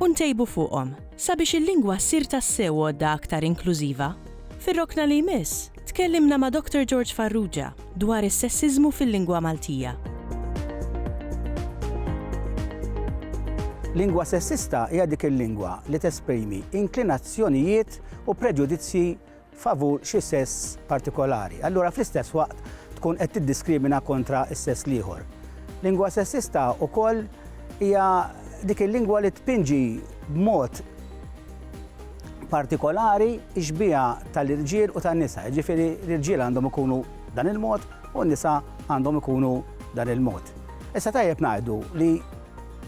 u ntejbu fuqhom sabiex il-lingwa ssir tassew għodda aktar inklużiva. Fir-rokna li jmiss, tkellimna ma' Dr. George Farrugia dwar is-sessiżmu fil-lingwa Maltija. Lingwa sessista hija dik il-lingwa li tesprimi inklinazzjonijiet u preġudizzji favur xi sess partikolari, allura fl-istess waqt tkun qed tiddiskrimina kontra s-sess l-ieħor. Lingwa sessista wkoll hija dik il-lingwa li tpinġi b'mod partikolari xbija tal-irġiel u tan-nisa, jiġifieri l-irġiel għandhom ikunu dan il-mod u n-nisa għandhom ikunu dan il-mod. Issa tajjeb ngħidu li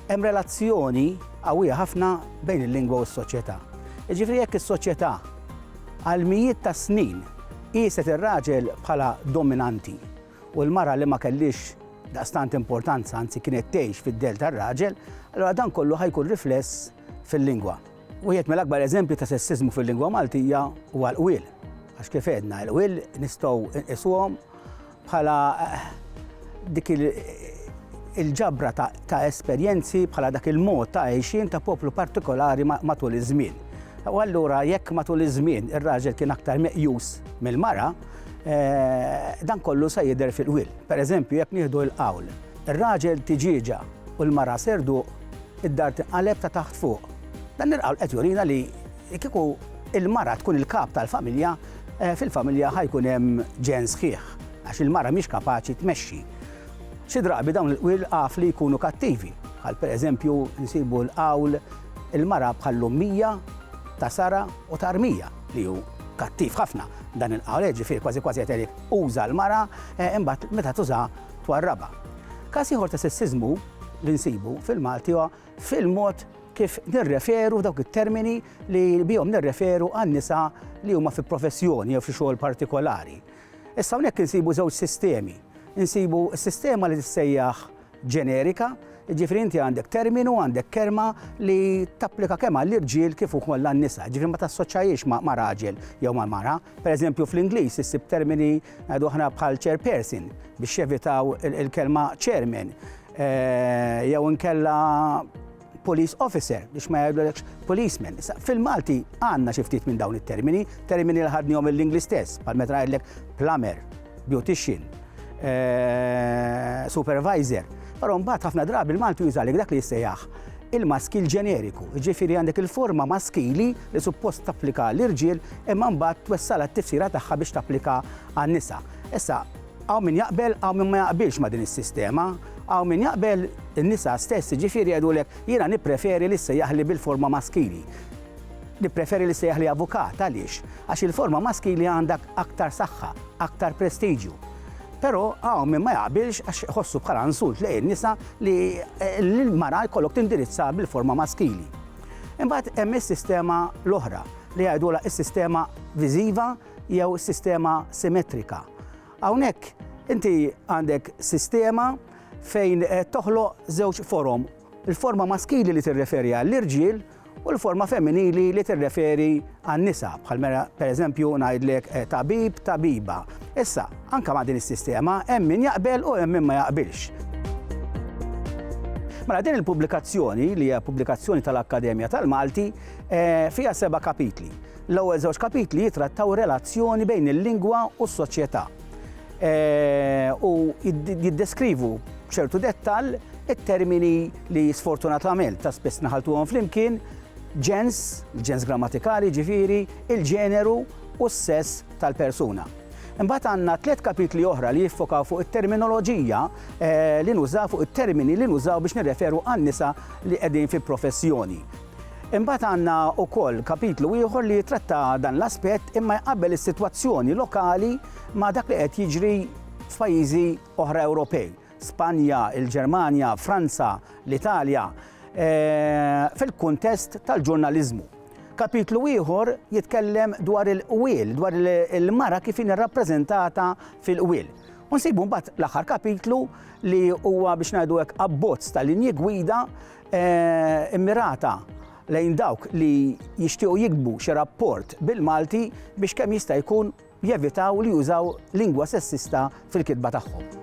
hemm relazzjoni qawwija ħafna bejn il-lingwa u s-soċjetà. Jiġifieri jekk is-soċjetà Għal mijiet ta' snin qieset ir-raġel bħala dominanti u l-mara li ma kellhiex daqstant importanza anzi kienet tgħix fid-dell tar-raġel, allura dan kollu ħa jkun rifless fil-lingwa. Wieħed mill-akbar eżempji ta' sessiżmu fil-lingwa Maltija huwa l-qwiel, għax kif għedna l-qwiel nistgħu nqisuhom bħala dik il-ġabra ta' esperjenzi, bħala dak il-mod ta' għejxien ta' poplu partikolari matul iż-żmien. U allura jekk matul iż-żmien ir-raġel kien aktar meqjus mill-mara, dan kollu se jidher fil-qwiel. Pereżempju, jekk nieħdu l-qawl, ir-raġel tiġieġa u l-mara serduq, id-dar tinqaleb ta' taħt fuq. Dan il-qawl qed jurina li Kieku l-mara tkun il-kap tal-familja, fil-familja ħa jkun hemm ġenn sħiħ, għax il-mara mhix kapaċi tmexxi. Xi drabi dawn il-qwiel qafli jkunu kattivi, bħal pereżempju nsibu l-qawl Il-mara bħall-ummija ta' Sara u ta' Rmija, li hu kattiv ħafna dan il-qawl, jiġifieri kważi kważi qed jgħidilek uża l-mara, imbagħad meta tużaha twarrabha. Każ ieħor ta' sessiżmu li nsibu fil-Malti huwa fil-mod kif nirreferu dawk it-termini li bihom nirreferu għan-nisa li huma fi professjoni jew fi xogħol partikolari. Issa hawnhekk insibu żewġ sistemi. Insibu s-sistema li tissejjaħ ġenerika, ġifri inti għandek terminu, għandek kelma li tapplika kemm għall-irġiel kif ukoll għan-nisa, ġifri ma tassoċjajiex ma' raġel jew ma' mara. Per eżempju fl-Ingliż issib termini għadu aħna bħal chairperson biex jevitaw il-kelma chairman. Eh, jew inkella police officer biex ma jgħidulekx policeman. Fil-Malti għandna xi ftit minn dawn it-termini, termini li ħadnihom l-Ingli stess, bħal meta ngħidlek plumber, beautician, eh, supervisor. Però mbagħad ħafna drabi l-Malti jużalik dak li jissejjaħ il-maskil ġeneriku. Ġifiri għandek il-forma maskili li suppost tapplika l-irġiel imma mbagħad twessala t-tifsira tagħha biex tapplika għan-nisa. Issa, Hawn min jaqbel, hawn min ma jaqbilx ma' din is-sistema. Hawn min jaqbel, in-nisa stess jiġifieri, jgħidulek, jiena nippreferi li ssejjaħli bil-forma maskili. Nippreferi li ssejjaħli avukat, għaliex? Għax il-forma maskili għandha aktar saħħa, aktar prestiġju. Però hawn min ma jaqbilx għax iħossu bħala insult lejn in-nisa li l-mara jkollok tindirizzaha bil-forma maskili. Imbagħad hemm is-sistema l-oħra li jgħidulha s-sistema viżiva, jew sistema simetrika. Hawnhekk inti għandek sistema fejn toħloq żewġ forom, il-forma maskili li tirreferi għall-irġiel u l-forma femminili li tirreferi għan-nisa, bħal mela pereżempju ngħidlek eh, tabib, tabiba. Issa, anke ma' din is-sistema hemm min jaqbel u hemm min ma jaqbilx. Mela din il-pubblikazzjoni li hija pubblikazzjoni tal-Akkademja tal-Malti eh, fiha seba' kapitli. L-ewwel żewġ kapitli jitrattaw relazzjoni bejn il-lingwa u s-soċjetà u jiddeskrivu b'ċertu dettall it-termini li sfortunatament ta' spiss naħaltuhom flimkien, ġens, il-ġens grammatikali ġifieri, il-ġeneru u s-sess tal-persuna. Imbagħad għandna tliet kapitli oħra li jiffokaw fuq it-terminoloġija li nużaw fuq it-termini li nużaw biex nirreferu għan-nisa li qegħdin fi professjoni. Imbagħad għandna wkoll kapitlu ieħor li jitratta dan l-aspett imma jqabbel is-sitwazzjoni lokali ma' dak li qed jiġri f'pajjiżi oħra Ewropej, Spanja, il-Ġermanja, Franza, l-Italja, fil-kuntest tal-ġurnaliżmu. Kapitlu ieħor jitkellem dwar il-qwiel, dwar il-mara kif inhi rrappreżentata fil-qwiel. U nsibu mbagħad l-aħħar kapitlu li huwa biex ngħidu hekk abbozz ta' linji gwida immirata lejn dawk li jixtiequ jiktbu xi rapport bil-Malti biex kemm jista' jkun jevitaw li jużaw lingwa sessista fil-kitba tagħhom.